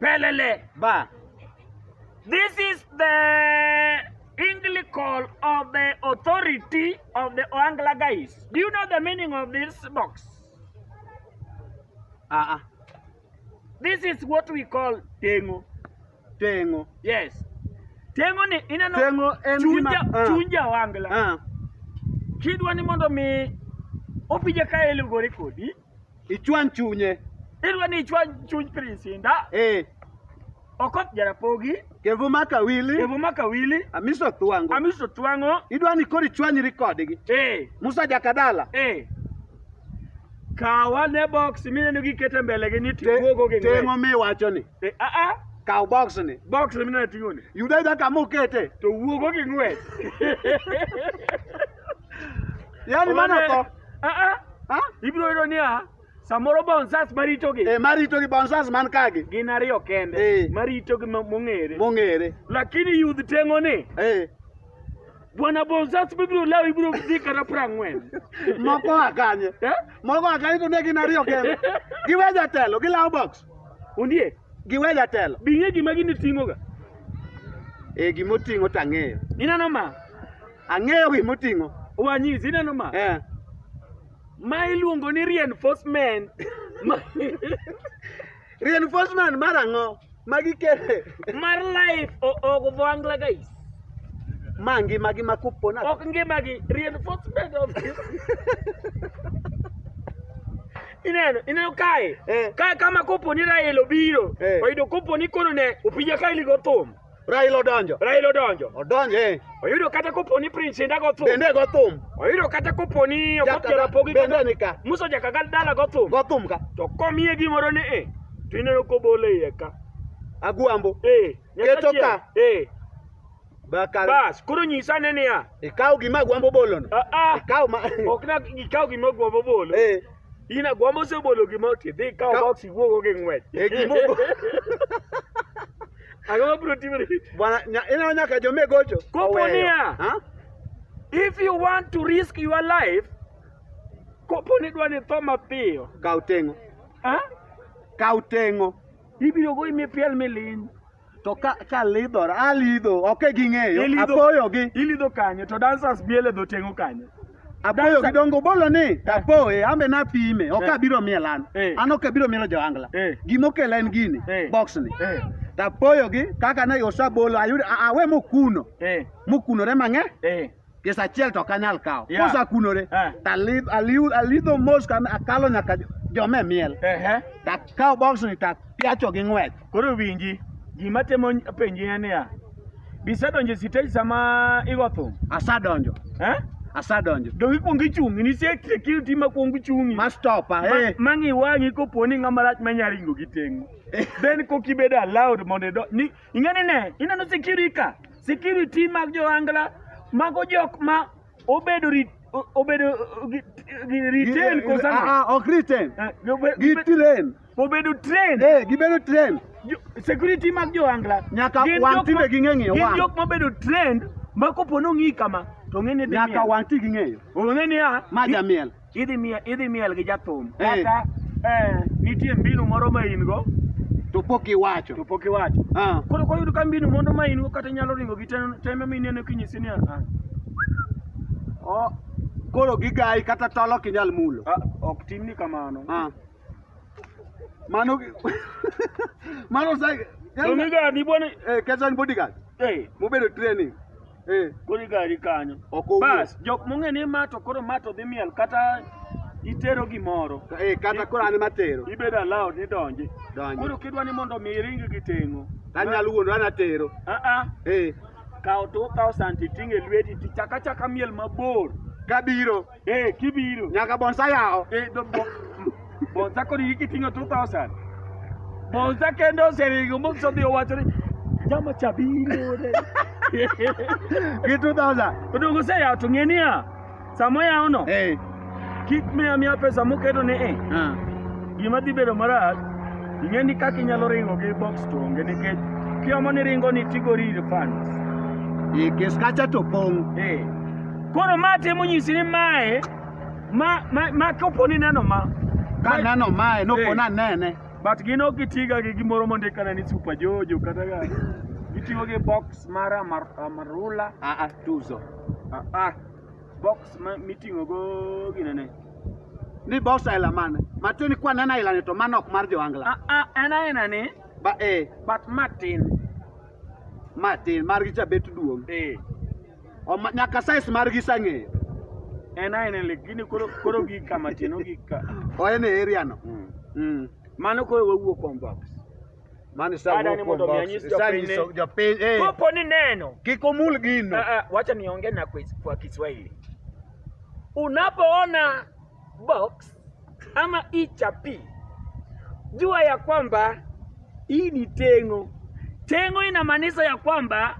Pelele Bar. This is the English call of the authority of the Oangla guys. Do you know the meaning of this box? Uh-uh. This is what we call tengo. Tengo. Yes. Tengo ni ineno Tengo en chunja, gima- ah. chunja Oangla. Ah. Kidwa ni mondo mi opija ka elugore kodi Ichwany chunye. Idwa ni ichwany chuny Prinsinda. Eh. Okot Jarapogi. Kevu maka wili. Kevu maka wili. Amiso Twang'o. Amiso Twang'o. Idwa ni koro ichwanyri kodgi. Eh. Musa Jakadala. Eh. Kawa ne box mineno gikete mbele gi ni tiwogo gi ng'we. Teng'o miwacho ni. Eh, a ah, a. Ah. Kaw box ni. Box mineno ting'o ni. Yuda yuda kama okete. To wuogo gi ng'we. Yaani maana ko a a ha ibiro yudo niya samoro bonsas maritogi eh maritogi bonsas man kagi gin ariyo kende eh. maritogi mong'ere mong'ere lakini yudh teng'o ni eh Bwana Bonzas bibiro lawi biro dhi kata prang'wen. Moko akanye. Eh? Moko akanye to ne gin ariyo kende. Giwe jatelo, gilawo box. Undie? Giwe jatelo. Bing'e gima gini ting'oga. Eh, gima oting'o tang'eyo. Ineno ma? Ang'eyo gima oting'o. Wanyisi ineno ma? Eh. Ma iluongo ni reinforcement. reinforcement mar ang'o? Magi kere. Mar life ok dhwangla guys. Ma ngima gi makupona. Ok ngima gi reinforcement of ineno ineno kae eh. kae kama kopo ni Rael obiro eh. oyudo kopo ni kono ne opija kae ligo thum Raila odonjo. Raila odonjo. Odonjo eh. Oyudo kata kopo ni Prince Indah go thum. Bende go thum. Oyudo kata kopo ni Okoth Jarapogi bende ni ka. Musa Jakagal dala go thum. Go thum ka. To komiye gimoro ni eh. To ineno kobole iye ka. Agwambo. Eh. Keto ka. Eh. Bakal. Bas, koro nyisa ne niya. Ikaw gima agwambo bolono. Ah ah. Ikaw ma. Ok na ikaw gima agwambo bolo. Eh. In agwambo osebolo gima oti dhi kawo Ka- box iwuogo gi ng'wech. E gimo- Ang'o ma biro timore? Bwana nya- ineno nyaka jome gocho. Kopo oweyo. niya. Ha? If you want to risk your life, kopo ni dwa ni tho mapiyo. Kaw teng'o. Ha? Kaw teng'o. Ibiro goyi mipiel miliny. To ka ka lidhora, alidho, ok e ging'eyo, Ilidho- apoyo gi. Ilidho kanye to dancers biele dho tengo kanye. Apoyo gi dongo bolo ni, apoye, ambe na pime, ok Eh. abiro miel an. Eh. An ok abiro mielo Joangla. Eh. Gima okela en gini, Eh. box ni. Eh, Tapoyo gi, kaka ne osabolo, ayudo, a- awe mokuno, eh, mokunore mang'e. eh. pesa achiel to ok anyal kawo yeah. kosakunore eh. alidho mos akalo nyaka jome miel uh-huh. takawo boxni tapiacho gi ng'wech koro winji gima temo penji en niya bisedonjo e sitej sama igo thum asadonjo eh? asadonjo donge ikwongo ichungi nitie security ma kwongo ichungi ma stopa hey. Eh. mang'i wang'i kopo ni ng'ama rach manya ringo gi teng'o eh. then kok ibedo allowed mondo ido ni Ing'e ni ne, ineno security ka, security mag jo angla, mago jok ma obedo rit, o- obedo uh, gi, gi retain ko sama. Ah, ah, ok retain. Eh, obe- Gi obe- train. Obedo train. Eh, gibedo train. Jo- security mag jo angla Nyaka gin wang' jok tinde ma- ging'e ng'iyo gin wang'. jok mobedo trend ma kopo nong'i kama to ng'e ni dhi Nyaka miel. wang' ti gi ng'eyo. Ong'e ni a Ma jamiel. idhi miel, idhi miel gi jathum Eh. kata eh, nitie mbinu moro ma in go to pok iwacho to pok iwacho Ah, koro koyudo ka mbinu mondo ma in go kata inyalo ringo gi tem- tembe ma ineno kinyisi ni ah, o- koro gigayi kata tol ok inyal mulo ah, ok timni kamano Ah. Mano mano sai. To mi ga ni bwana. Eh, kesho ni bodyguard. Eh, mubedo training. Eh, kodi gari kanyo. Ok owuo. Bas, jok mong'e ni ma to koro ma to dhi miel kata itero gimoro. Eh, kata koro an ema tero. Ibedo allowed ni donji. Donji. Koro kidwa ni mondo mi iring gi teng'o. Tanyalo wuondo an atero. Ah ah. Eh, Kaw to kaw santi ting' e lweti tichaka chaka miel mabor. kabiro. Eh, kibiro. Nyaka bonsa yawo. Eh, do, bo, bonsa kod hiki kiting'o 2000. Bonsa kende oseringo moso dhi owacho ni jama cha biro ne. Gi 2000. Odongo se yawo to ng'e niya sama yawo no Eh. kik miya miya pesa moketo ni eh Ah. gima dhi bedo marach ing'e ni kaka inyalo ringo gi box to onge nikech kiomo ni ringo ni tigori refund. Eh, kes kacha to pong'. Eh, Koro ma temo nyisi ni mae ma ma, ma kopo ni neno ma Ka neno mae no Eh. pona nene. but gin ok gitiga gi gimoro mondik kana ni super jojo kata ga gitiyo gi box mar amar, amarula Ah ah tuzo. ah, ah, box ma, miting'o go ginene Ni boss aila mane. Matwe ni kwa nena aila ni to mano ok mar joangla. ah, ah, en aena ni Ba eh but matin matin mar gi chabet duong'. eh Oma- nyaka size margi isang'eyo en aena lakini koro koro gi kama chino gi ka oen e area no Mm. Mm. mano koro wawuo kuom box mano Ada ni mondo mi anyis jopiny ni- isawuok jopiny eh, kopo ni neno kik omul gino Ah, ah, wacha niongee na kwa, kwa Kiswahili. Unapoona box ama hii chapi, jua ya kwamba hii ni tengo. Tengo inamaanisha ya kwamba